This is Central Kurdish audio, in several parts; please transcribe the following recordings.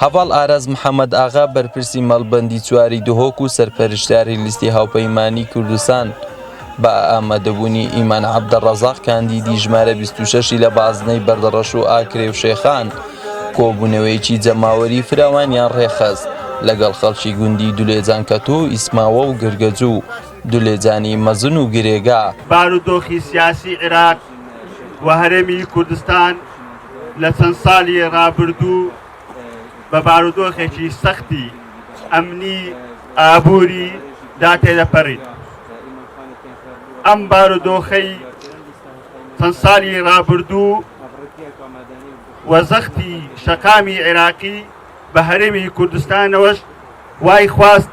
هەڤاڵ ئاراس محەمەد ئاغا، بەرپرسی مەڵبەندی چواری دهۆک و سەرپەرشتیاری لیستی هاوپەیمانیی کوردستان، بە ئامادەبوونی ئیمان عەبدەڕەزاق، کاندیدی ژمارە بیست و شەش ی لە بازنەی بەردەڕەش و ئاکرێ و شێخان، کۆبوونەوەیەکی جەماوەریی فراوانیان ڕێکخست لەگەڵ خەڵکی گوندی دولێجان کەتوو و ئیسماوە و گرگەجوو و دولێجانی مەزن و گرێگا. بارودۆخی سیاسیی عێراق و هەرێمی کوردستان لە چەند ساڵی ڕابردوو بە بارودۆخێکی سەختی ئەمنی ئابووری دا تێدەپەڕین ئەم بارودۆخەی چەند ساڵی ڕابردوو و زەختی شەقامی عێراقی بە هەرێمی کوردستانەوەش وای خواست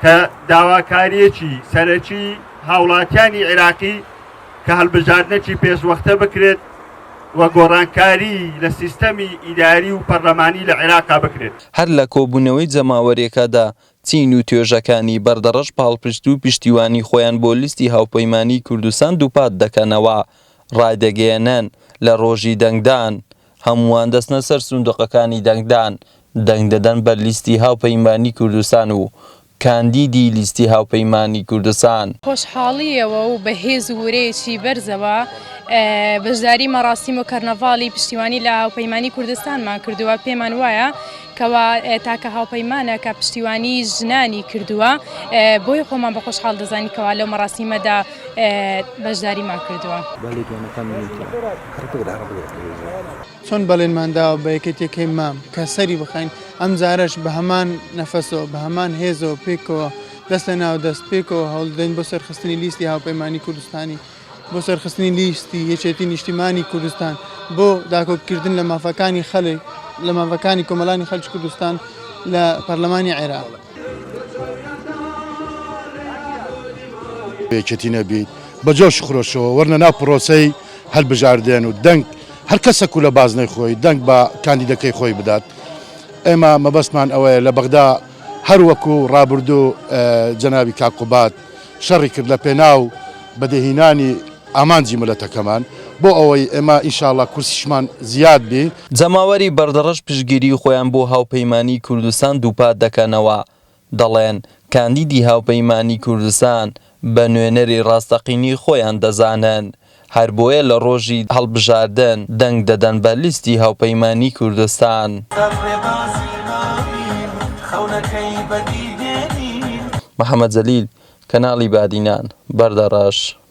کە داواکاریەکی سەرەکی هاوڵاتیانی عێراقی کە هەڵبژاردنێکی پێشوەختە بکرێت و گۆڕانکاری لە سیستەمی ئیداری و پەرلەمانی لە عێراقا بکرێت. هەر لە کۆبوونەوەی جەماوەریەکەدا چین و توێژەکانی بەردەڕەش پاڵپشت و پشتیوانی خۆیان بۆ لیستی هاوپەیمانیی کوردستان دووپات دەکەنەوە. ڕایدەگەیەنن، لە ڕۆژی دەنگدان، هەمووان دەچنە سەر سندوقەکانی دەنگدان، دەنگ دەدەن بە لیستی هاوپەیمانیی کوردستان و کاندیدی لیستی هاوپەیمانی کوردستان. خۆشحاڵییەوە و بە هێز و ورەیەکی بەرزەوە بەشداری مەراسیم و کەرنەڤاڵی پشتیوانی لە هاوپەیمانی کوردستانمان کردووە، پێمان وایە کەوا تاکە هاوپەیمانە کە پشتیوانی ژنانی کردووە، بۆیە خۆمان بە خۆشحاڵ دەزانین کەوا لەو مەراسیمەدا بەشداریمان کردووە. چۆن بەڵێنمان داوە بە یەکێتیەکەی مام کە سەری بخەین، ئەم جارەش بە هەمان نەفەسەوە، بە هەمان هێزەوە پێکەوە دەست لە ناو دەست پێکەوە هەوڵدەدەین بۆ سەرخستنی لیستی هاوپەیمانی کوردستانی، بۆ سەرخستنی لیستی یەکێتی نیشتیمانی کوردستان، بۆ داکۆک کردن لە مافەکانی خەلک، لە مافەکانی کۆمەلانی خەلکی کوردستان لە پەرلەمانی عێراق. یەکێتی نەبیت بە جۆش و خرۆشەوە وەرنە ناو پرۆسەی هەلبژاردێن و دەنگ هەر کەسەک و لە بازنەی خۆی دەنگ بە کاندیدەکەی خۆی بدات ئێمە مەبەستمان ئەوەیە لە بەغدا هەر وەکوو ڕابردوو جەنابی کاک قوباد شەڕی کرد لە پێناو بەدێهینانی ئامانجی ملەتەکەمان بۆ ئەوەی ئێمە ان شاء اللە کورسیشمان زیاد بی. جەماوەری بەردەڕەش پشتگیری خۆیان بۆ هاوپەیمانیی کوردستان دووپات دەکەنەوە، دەڵێن، کاندیدی هاوپەیمانیی کوردستان بە نوێنەری ڕاستەقینەی خۆیان دەزانن. هەر بۆیە لە ڕۆژی هەڵبژاردن دەنگ دەدەن بە لیستی هاوپەیمانیی کوردستان. محەمەد جەلیل، کەناڵی بادینان، بەردەڕەش.